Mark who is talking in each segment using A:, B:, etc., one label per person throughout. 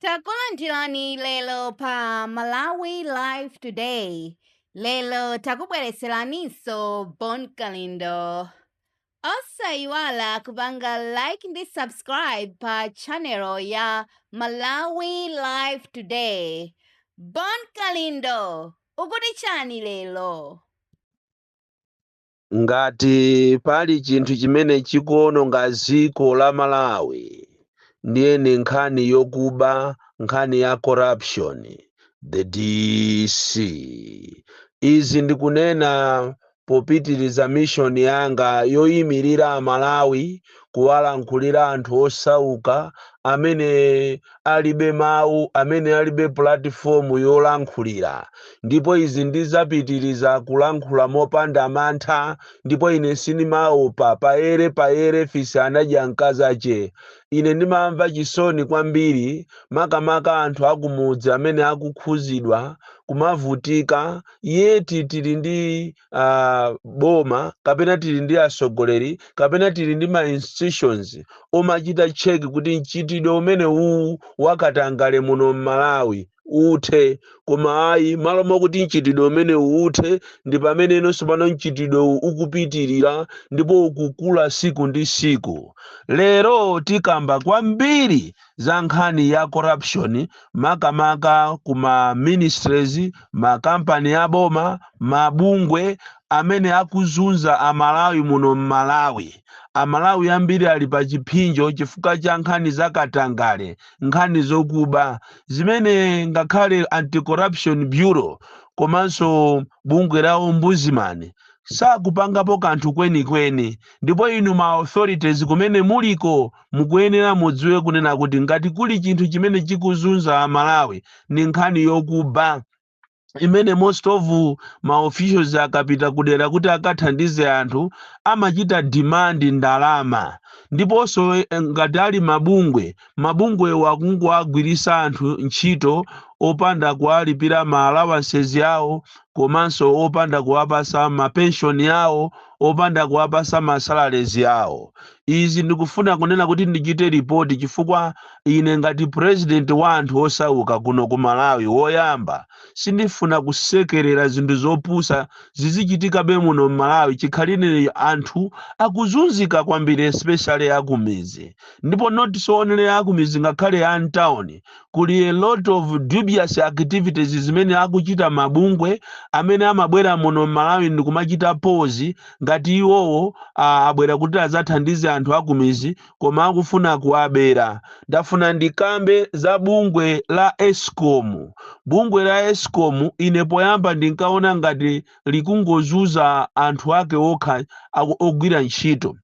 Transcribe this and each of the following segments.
A: Takulandirani lero pa Malawi Live Today. Lero takubweretseraninso Bon Kalindo. Osayiwala kupanga like ndi subscribe pa channel ya Malawi Live Today. Bon Kalindo, ukuti chani lero?
B: Ngati pali chinthu chimene chikuononga dziko la Malawi ndiye ndi nkhani yokuba nkhani ya corruption the DC izi ndikunena popitiriza mission yanga yoyimirira amalawi kuwalankhulira anthu osauka amene alibe mawu, amene alibe pulatifomu yolankhulira. Ndipo izi ndizapitiriza kulankhula mopanda mantha, ndipo ine sindimaopa. Payere, payere, fisi anadya mkazache. Ine ndimamva chisoni kwambiri makamaka anthu akumudzi amene akukhuzidwa, kumavutika, yet tili ndi. uh, boma kapena tili ndi atsogoleri kapena tili ndi ma institutions omachita check kuti mchitidwe umene uwu wakatangale muno mmalawi uthe koma ayi malo mokuti mchitidwe umene uthe ndi pamene inonso pano mchitidwe uwu ukupitirira ndipo ukukula siku ndi siku lero tikamba kwambiri za nkhani ya corruption makamaka ku ma ministries makampani ya boma mabungwe amene akuzunza amalawi muno mmalawi amalawi ambiri ali pa chipsinjo chifukwa cha nkhani za katangale nkhani zokuba zimene ngakhale anti-corruption bureau komanso bungwe la ombudsman sakupangapo kanthu kwenikweni ndipo inu ma authorities kumene muliko Mukuyenera mudziwe kunena kuti ngati kuli chinthu chimene chikuzunza a Malawi ndi nkhani yokuba imene most of ma officials akapita kudera kuti akathandize anthu amachita demand ndalama ndiponso eh, ngati ali mabungwe mabungwewo akungowagwiritsa anthu ntchito opanda kuwalipira ma allowances awo komanso opanda kuwapasa ma pension awo opanda kuwapasa ma salaries awo Izi ndikufuna kunena kuti ndichite report chifukwa ine ngati president wa anthu osauka kuno ku Malawi woyamba sindifuna kusekerera zinthu zopusa zizichitikabe muno m'Malawi chikhalire anthu akuzunzika kwambiri especially akumidzi ndipo not so only akumidzi ngakhale a m'town kuli a lot of dubious activities zimene akuchita mabungwe amene amabwera muno mmalawi ndikumachita pose ngati iwowo ah, abwera kuti adzathandize anthu akumizi koma akufuna kuwabera ndafuna ndikambe za bungwe la escom bungwe la escom ine poyamba ndinkaona ngati likungozuza anthu ake okha ogwira ntchito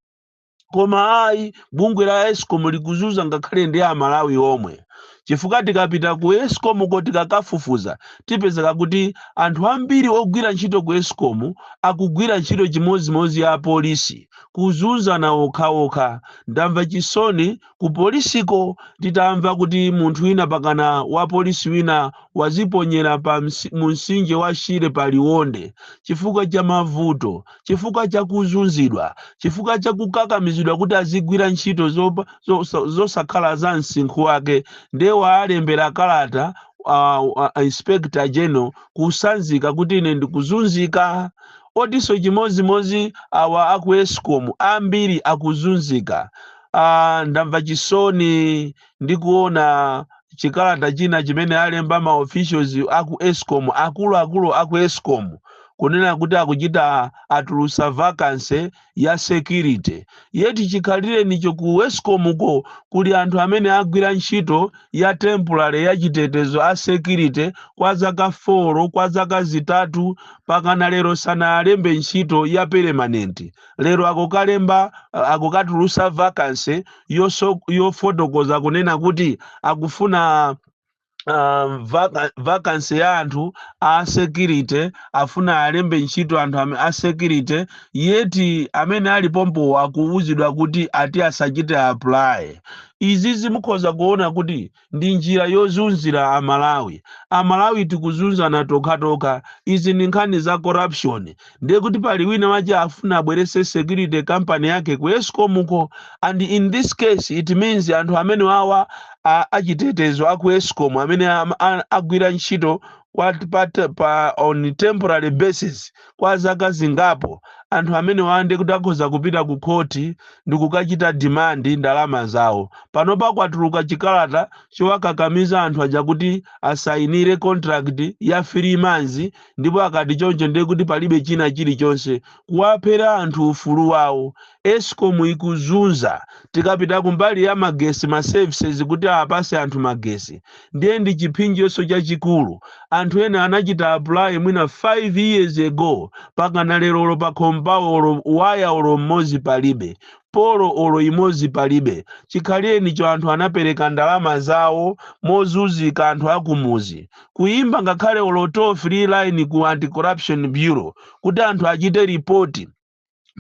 B: koma ayi bungwe la escom likuzuza ngakhale ndi amalawi omwe chifukwa tikapita ku escom ko tikakafufuza tipezeka kuti anthu ambiri ogwira ntchito ku escom akugwira ntchito chimodzimodzi ya polisi kuzunzana okhaokha ndamva chisoni Ku polisiko titamva kuti munthu wina pakana wa polisi wina waziponyera pa msi, mu msinje wa Shire pa Liwonde chifukwa cha mavuto, chifukwa cha kuzunzidwa, chifukwa cha kukakamizidwa kuti azigwira ntchito zo, zo, zosakhala za msinkhu wake nde waalembera kalata a, a, a Inspector General kusanzika kuti ine ndikuzunzika ndiyenso chimozimozi awa aku Escom ambiri akuzunzika ah, ndamva chisoni ndi kuona chikalata china chimene alemba ma officials aku escom akuluakulu aku escom kunena kuti akuchita atulusa vacancy ya security yeti chikhalirenicho ku escom ko kuli anthu amene agwira ntchito ya temporary ya chitetezo a security kwa zaka 4 kwa zaka zitatu pakana lero sanawalembe ntchito ya permanent lero akukalemba akukatulusa vacancy yofotokoza kunena kuti akufuna um, vacancy ya anthu a security afuna alembe ntchito anthu a security yeti amene ali pompo akuwuzidwa kuti ati asachite apply izi zi mukhoza kuona kuti ndi njira yozunzira a Malawi. A Malawi tikuzunzana tokhatokha. Izi ndi nkhani za corruption. Ndiye kuti pali wina wake afuna abweretse security company yake ku Escom ko and in this case it means anthu amene wawa a, a chitetezo a ku Escom amene am- a- agwira ntchito kwa pa, pa on temporary basis kwa zaka zingapo, anthu amenewa ndiye kuti akhoza kupita ku khoti ndi kukachita demand ndalama zawo. Panopa kwatuluka chikalata chowakakamiza anthu aja kuti asayinire contract ya 3 months ndipo akati choncho ndiye kuti palibe china chilichonse. Kuwaphera anthu ufulu wawo. Escom ikuzunza tikapita kumbali ya magesi ma services kuti apase anthu magesi ndiye ndi chiphinjonso chachikulu anthu ena anachita apply mwina 5 years ago pakana lero olo pakhomo pawo olo waya olo mmodzi palibe polo olo imodzi palibe chikhalienicho anthu anapereka ndalama zawo mozunzika anthu akumuzi kuyimba ngakhale olo toll free line ku anti corruption bureau kuti anthu achite report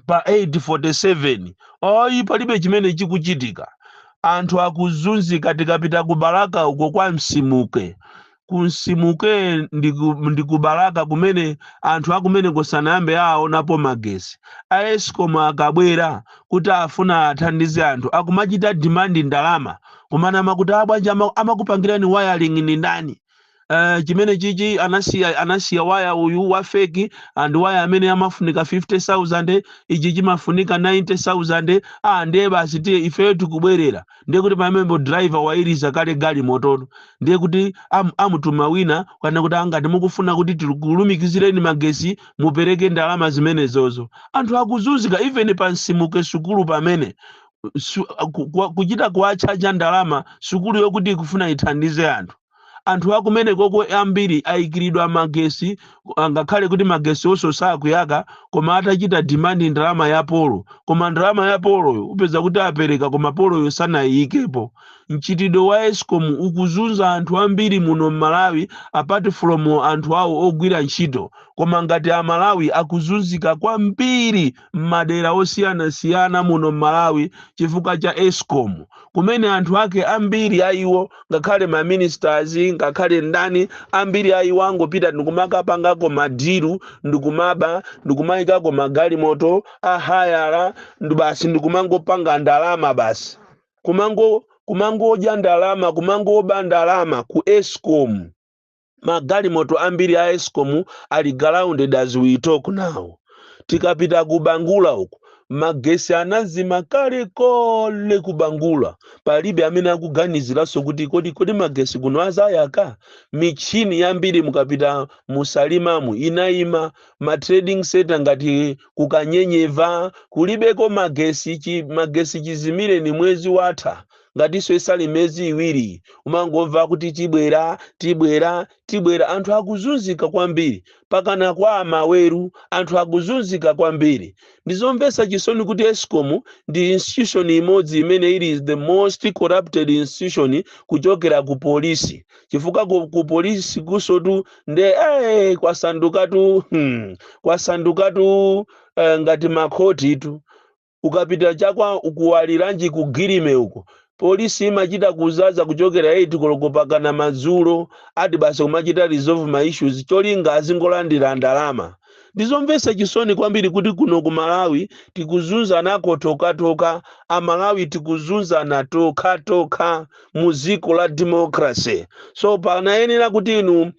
B: pa 847 oyi palibe chimene chikuchitika anthu akuzunzika tikapita ku balaka uko kwa nsimuke ku nsimuke ndi ku- ndi ku balaka kumene anthu akumeneko sanayambe aonapo magesi a escom akabwera kuti afuna athandize anthu akumachita demand ndalama kumanama kuti abwana ama- amakupangirani wiring ndi ndani Uh, chimene chichi anasiya anasiya waya uyu wa feki and waya amene amafunika 50000 ichi chimafunika 90000 ah ndiye basi tiye ifeyo tikubwerera ndiye kuti pamenepo driver wairiza kale galimoto ndiye kuti am, amutuma wina akanene kuti ngati mukufuna kuti tikulumikizireni magesi mupereke ndalama zimenezozo anthu akuzunzika even pansimuke sukulu pamene su- ku- ku- kuchita kuwatchaja ndalama sukulu yokuti ikufuna ithandize anthu anthu akumenekoko ambiri ayikiridwa magesi angakhale kuti magesiwonso sakuyaka koma atachita demand ndalama ya polo koma ndalama ya poloyo upeza kuti apereka koma poloyo sanayiyikepo mchitidwe wa escom ukuzunza anthu ambiri muno mmalawi apart from anthu awo ogwira ntchito koma ngati amalawi akuzunzika kwambiri m'madera osiyanasiyana muno m'Malawi chifukwa cha escom kumene anthu ake ambiri a iwo ngakhale ma ministers ngakhale ndani ambiri a iwo angopita ndikumakapangako madiru ndikumaba ndikumayikako magalimoto a hayala nde basi ndikumangopanga ndalama basi kumango kumangodya ndalama kumangoba ndalama ku escom magalimoto ambiri a escom ali grounded as we talk now tikapita ku bangula uku magesi anazima kale kale ku bangula palibe amene akuganiziranso kuti kodi kodi magesi kuno azayaka michini yambiri mukapita musalimamu inayima ma trading center ngati kukanyenyeva kulibeko magesi chi, magesi chizimireni mwezi watha ngatinso isali miyezi iwiri umangomva kuti tibwera tibwera tibwera anthu akuzunzika kwambiri pakana kwa amaweru anthu akuzunzika kwambiri ndizomvetsa chisoni kuti escom ndi institution imodzi imene ili the most corrupted institution kuchokera ku polisi chifukwa ku, ku polisi kunsotu nde eh, kwasandukatu hmm, kwasandukatu eh, ngati makhoti tu Ukapita cha kwa ku Waliranji ku Guilleme uko, polisi imachita kuzaza kuchokera 8 koloko pakana madzulo ati basi kumachita resolve ma issues cholinga azingolandira ndalama. Ndizomvetsa chisoni kwambiri kuti kuno ku Malawi tikuzunzanako tokhatokha, a Malawi tikuzunzana tokhatokha mu dziko la democracy. So panayenera kuti inu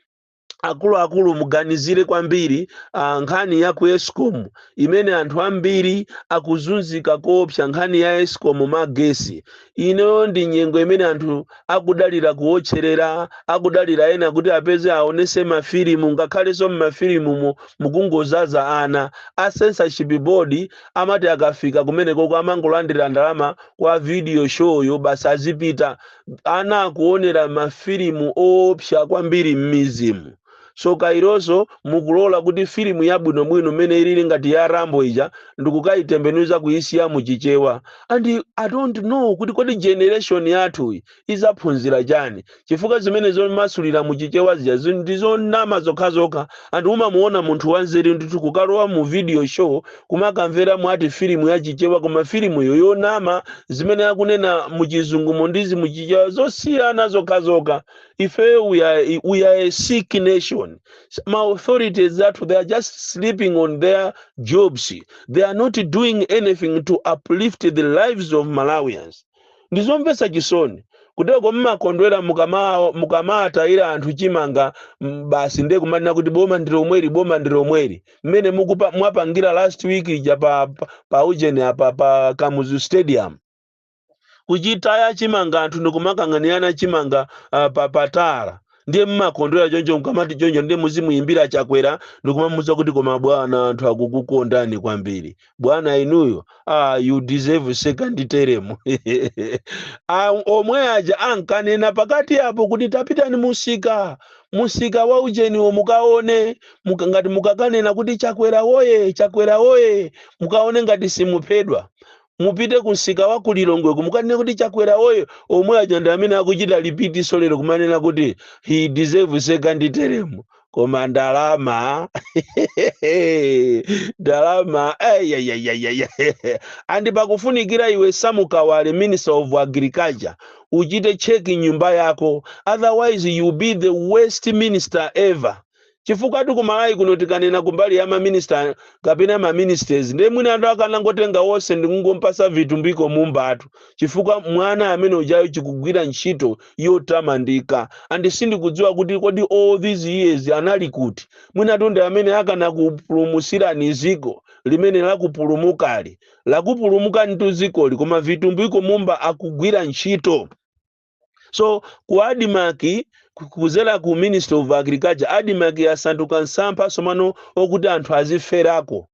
B: akuluakulu muganizire kwambiri ah, nkhani ya ku escom imene anthu ambiri akuzunzika koopsa nkhani ya escom magesi inoyo ndi nyengo imene anthu akudalira kuotcherera akudalira ena kuti apeze aonese mafilimu ngakhalenso mmafilimumo mukungozaza ana a censorship board amati akafika kumenekoko amangolandira ndalama kwa video show yo basi azipita ana akuonera mafilimu oopsa kwambiri m'midzimu. Tsoka ilonso, mukulola kuti filimu yabwinobwino mmene ilili ngati ya Rambo ija ndikukaitembenuza kuisiya mu Chichewa and I don't know kuti kodi generation yathuyi idzaphunzira chani chifukwa zimene zomasulira mu Chichewa zija zi- ndi zonama zokhazokha and umamuona munthu wanzeru ndithu kukalowa mu video show kumakamvera mwati filimu ya chichewa koma filimuyo yonama zimene akunena muchizungumo ndizi muchichewa zosiyana zokhazokha ifeyo we are, we are a sick nation ma authorities athu they are just sleeping on their jobs they are not doing anything to uplift the lives of malawians Ndi zomvetsa chisoni. Kuteroko mmakondwera mukama mukamatayira anthu chimanga mm, basi ndiye kumanena kuti boma ndi lomweli boma ndi lomweli. Mmene mukupa mwapangira last week ija pa pa, pa ujeni apa pa Kamuzu Stadium. Kuchitaya chimanga anthu ndikumakanganirana chimanga uh, pa patala. Ndiye mmakondwera choncho mkamati choncho ndiye muzimuyimbira Chakwera ndikumamuza kuti koma bwana anthu akukukondani kwambiri. bwana inuyo ah, you deserve second term Ah, omwe aja ankanena pakati apo kuti tapitani musika musika wa ujeniwo mukaone muka, ngati mukakanena kuti chakwera woye chakwera woye mukaone ngati simuphedwa mupite ku msika wa kulilongweko mukanene kuti chakwera woye omwe aja ndi amene akuchita repeat nso lero kumanena kuti he deserve second term koma ndalama ndalama eyeyeyeye and pakufunikira iwe sam kawale minister of agriculture uchite check nyumba yako otherwise you be the worst minister ever chifukwatu ku malawi kuno tikanena kumbali ya maminista kapena maministers ndiye mwina anthu akanangotenga wonse ndikungomupasa vitumbiko mumbatu chifukwa mwana amene ujayo chikugwira ntchito yotamandika and sindikudziwa kuti kodi all these years anali kuti mwinatu nde amene akanakupulumusirani ziko limene lakupulumukali lakupulumukanitu zikoli koma vitumbiko mumba akugwira ntchito so ku admarc ku- kuzera ku ministry of agriculture admarc yasanduka msampha somano okuti anthu aziferako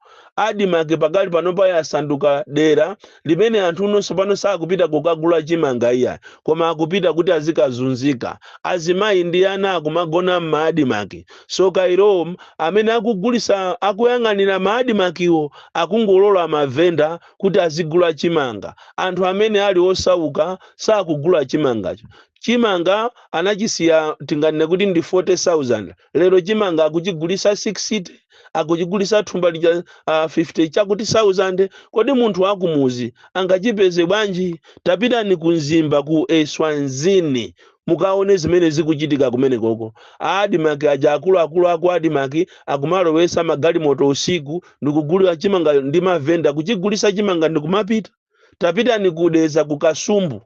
B: Admarc pakali panopa yasanduka dera limene anthu uno tsopano sakupita kukagula chimanga iya koma akupita kuti azikazunzika azimayi ndi ana akumagona m'ma admarc so kailowo amene akugulisa akuyang'anira ma admarkiwo akungolola mavenda kuti azigula chimanga anthu amene ali osauka sakugula chimangacho chimanga anachisiya tinganene kuti ndi 40000 lero chimanga akuchigulisa 60 akuchigulisa thumba lija uh, 50 chakuti 1000 kodi munthu wakumuzi angachipeze bwanji tapitani ku mzimba ku eswazini mukaone zimene zikuchitika kumenekoko a admarc aja akuluakulu aku admarc akumalowesa magalimoto usiku ndikugulira chimanga ndi mavenda kuchigulisa chimanga ndikumapita tapitani ku dedza ku kasumbu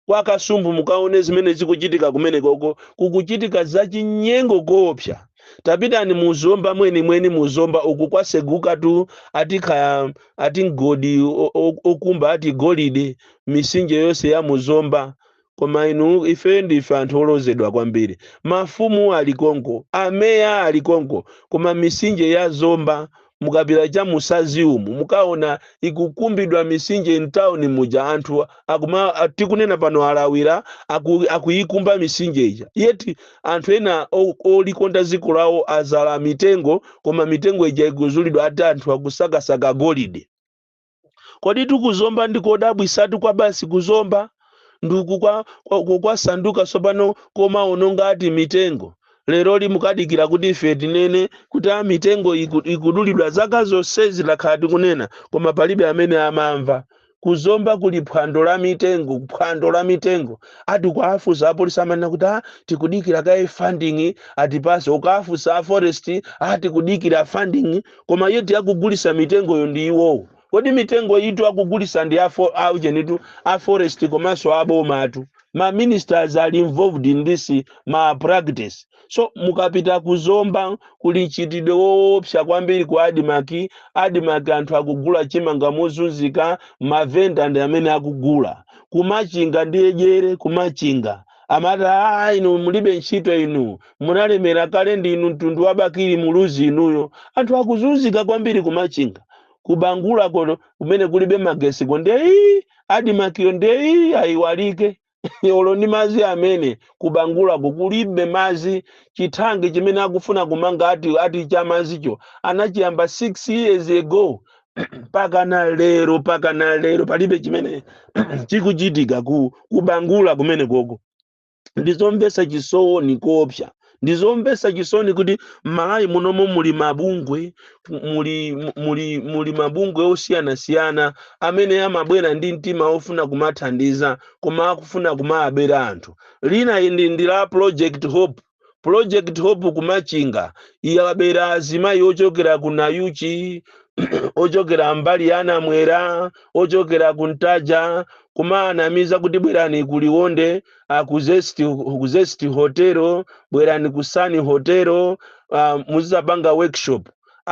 B: kwa kasumbu mukaone zimene zikuchitika kumenekoko kukuchitika zachinyengo koopsa tapitani mu zomba mwenimweni mu zomba uku kwasegukatu ati ka- ati mgodi o- o- okumba ati golide misinje yonse ya mu zomba Koma inu, ife ndife anthu olodzedwa kwambiri. Mafumu ali konko, ameya ali konko, koma misinje ya Zomba, mukapita cha mu Sadzi umu, mukaona ikukumbidwa misinje m'tauni muja, anthu akuma, tikunena pano alawira, aku, akuikumba misinje ija. Yet anthu ena o- olikonda dziko lawo adzala mitengo, koma mitengo ija ikuzulidwa ati anthu akusakasaka golide. koditu ku zomba ndi kodabwisatu kwabasi ku zomba ndi ku kwa, kwa, kwa, kwasanduka tsopano komaononga ati mitengo leroli mukadikira kuti ife tinene kuti a mitengo iku- ikudulidwa zaka zonsezi takhala tikunena koma palibe amene amamva ku zomba kuli phwando la mitengo phwando la mitengo ati kuwafusa apolisi amanena kuti a tikudikira kaye funding atipase ukafusa a forest a tikudikira funding koma yet akugulisa mitengoyo ndi iwowo kodi mitengoyitu akugulisa ndi afo- aujenitu a forest komanso abomatu ma ministers ali involved in this malpractice so mukapita ku zomba kuli mchitidwe woopsa kwambiri ku admarc admarc anthu akugula chimanga mozunzika mavenda ndi amene akugula ku machinga ndiye jere ku machinga amati aa inu mulibe ntchito inu munalemera kale ndi inu mtundu wa bakili muluzi inuyo anthu akuzunzika kwambiri kumachinga kubangulako nokumene kulibe magesiko nde ya admakiyo nde yaiwalike olo ndi mazi amene kubangulako kulibe mazi chithanki chimene akufuna kumanga ati ati cha mazicho anachiyamba 6 years ago pakana lero pakana lero palibe chimene chikuchitika kubangula kumene koko ndizomvesa chisoni koopsa ndizomvesa chisoni kuti m'malawi munomo muli mabungwe muli muli muli mabungwe osiyanasiyana amene amabwera ndi mtima ofuna kumathandiza koma akufuna kumaabera anthu lina ndi, ndi la project hope Project Hope ku Machinga yabera azimayi ochokera ku Nayuchi, ochokera mbali ya Namwera, ochokera ku Ntaja, kumaanamiza kuti bwerani ku Liwonde, ah, ku Zest, ku Zest Hotel, bwerani ku Sun Hotel, ah, muzizapanga workshop.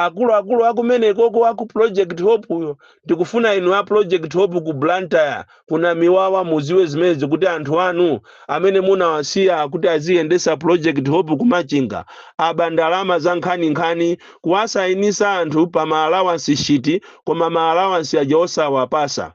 B: akuluakulu akumene koko aku project hope yo ndikufuna inu a project hope ku blantyre kuna miwawa muziwe zimenezi kuti anthu anu amene munawasiya kuti aziyendesa project hope kumachinga aba ndalama za nkhaninkhani kuwasayinisa anthu pa maalawansi shiti koma maalawansi aja osawapasa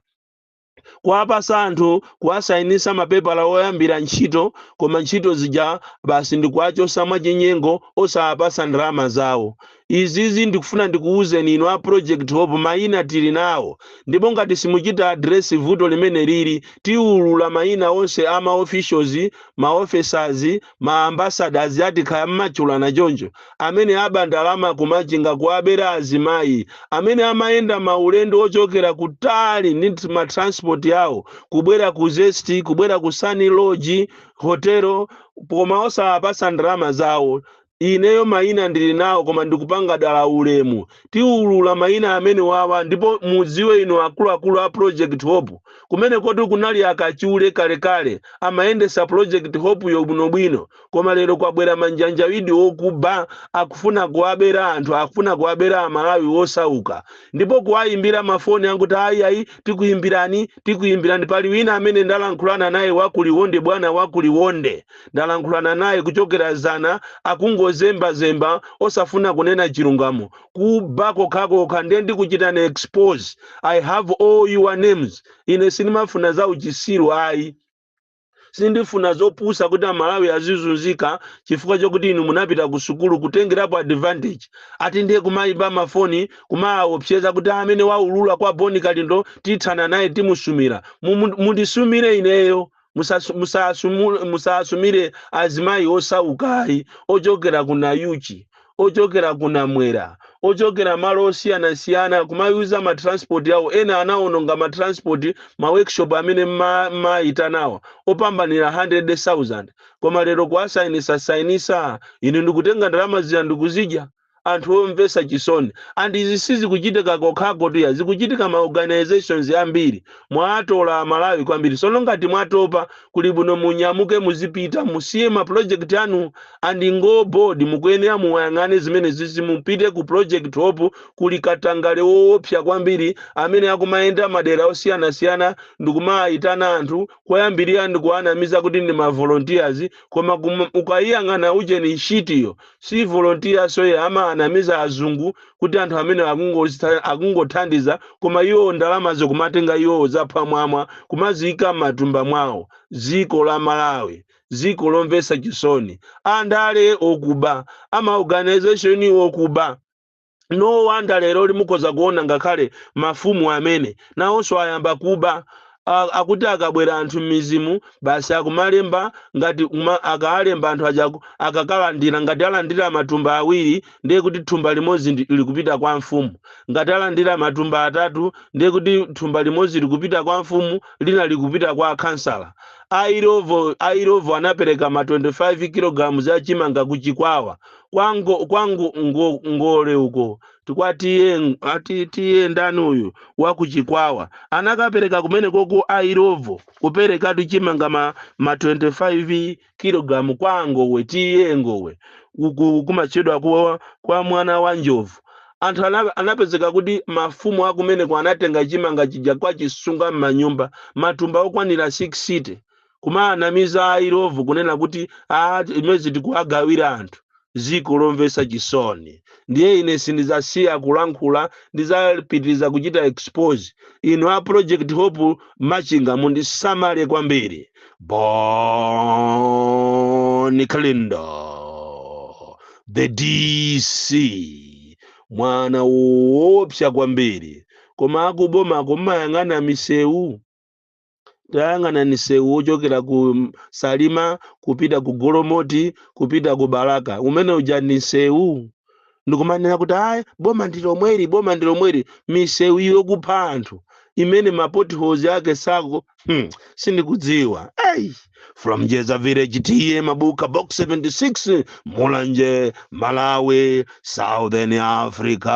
B: kuwapasa anthu kuwasainisa mapepala oyambira ntchito koma ntchito zija basi ndikuwachosa mwachinyengo osawapasa ndalama zawo izizi ndikufuna ndikuwuzeni inu a project hope mayina tili nawo ndipo ngati simuchita adiresi vuto limene lili tiwulula mayina onse a ma officials ma officers ma ambassadors ati kaya mmachulana choncho amene aba ndalama kumachinga kuwabera azimayi amene amayenda maulendo ochokera kutali ndi nt- ma transport yawo kubwera ku zest kubwera ku sun lodge hotelo koma osawapasa ndalama zawo ineyo mayina ndili nawo koma ndikupanga dala ulemu tiulula mayina amene wawa ndipo mudziwe inu akuluakulu a project hope Kumenekoti kunali akachule kalekale amayendesa project hope yo bwinobwino koma lero kwabwera manjanjawidi okuba akufuna kuwabera anthu akufuna kuwabera amalawi wosauka ndipo kuwayimbira ma phone akuti ayi ayi tikuyimbirani tikuyimbirani pali wina amene ndalankhulana naye wakuliwonde bwana wakuliwonde ndalankhulana naye kuchokera zana akungozemba zemba osafuna kunena chilungamo kuba kokhakokha nde ndikuchitani expose i have all your names ine sindimafuna za uchisiru ayi sindifuna zopusa kuti amalawi azizunzika chifukwa chokuti inu munapita ku sukulu kutengerapo advantage ati ndiye kumayimba mafoni kumaawopseza kuti amene waulula kwa boni kalindo tithana naye timusumira Mumu- mundisumire ineyo Musasu- musasumu- musasumire azimayi osauka ayi ochokera ku nayuchi ochokera ku namwera ochokera malo osiyanasiyana kumayuza matranspoti awo ena anawononga matranspoti ma workshop amene mma- mmayitanawa opambanira 100,000 koma lero kuwasainisa sainisa inu ndikutenga ndalama zija ndikuzidya anthu omvesa chisoni and izi sizikuchitika kokhakotu ayi zikuchitika ma organisations ambiri mwaatola amalawi kwambiri sono ngati mwatopa kuli bwino munyamuke muzipita musiye ma project anu and ngo board mukuyenera muwayang'ane zimenezizi mupite ku project hope kuli katangale woopsa kwambiri amene akumayenda madera osiyanasiyana ndikumaayitana anthu koyambirira ndikuwanamiza kuti ndi ma volunteers koma kum- ukayiyang'ana ujeni shitiyo si volontiya soye amaanamiza azungu kuti anthu amene akungozitha- akungothandiza koma iwo ndalamazo kumatenga iwowo zaphwamwamwa kumaziyika m'matumba mwawo ziko la malawi ziko lomvesa chisoni andale okuba a ma organization okuba no wonder leroli mukhoza kuona ngakhale mafumu amene nawonso ayamba kuba A- akuti akabwera anthu m'mizimu basi akumalemba ngati kuma- akaalemba anthu aja aku- akakalandira ngati alandira matumba awiri ndiye kuti thumba limodzi ndi- likupita kwa mfumu ngati alandira matumba atatu ndiye kuti thumba limodzi likupita kwa mfumu lina likupita kwa khansala a illovo a illovo anapereka ma 25 kilograms ya chimanga ku chikwawa kwa ngo- kwa ngo- ngo, ngole uko ti kwa TA ati TA ndani uyu wakuchikwawa anakapereka kumenekoko a illovo kupereka tuchimanga ma, ma 25 kilogramu kwa ngowe TA ngowe uku kumatchedwa kwa, kwa mwana wa njovu anthu ana- anapezeka kuti mafumu akumeneko anatenga chimanga chija kwachisunga m'manyumba matumba okwanira 60 kumaanamiza a illovo kunena kuti ayi maize tikuwagawira anthu ziko lomvesa chisoni ndiye ine sindizasiya kulankhula ndizapitiriza kuchita expose inu a project hope machinga mundisamale kwambiri bon kalindo the dc mwana woopsa kwambiri koma akuboma kumayang'ana misewu tayang'anani nsewu wochokera ku salima kupita ku golomoti kupita ku balaka umene uja ndi nsewu ndikumanena kuti ayi boma ndi lomweli boma ndi lomweli misewu yokupha anthu imene ma potholes ake sako hmm, sindikudziwa ayi, from njedza village TA mabuka box 76 mulanje malawi southern africa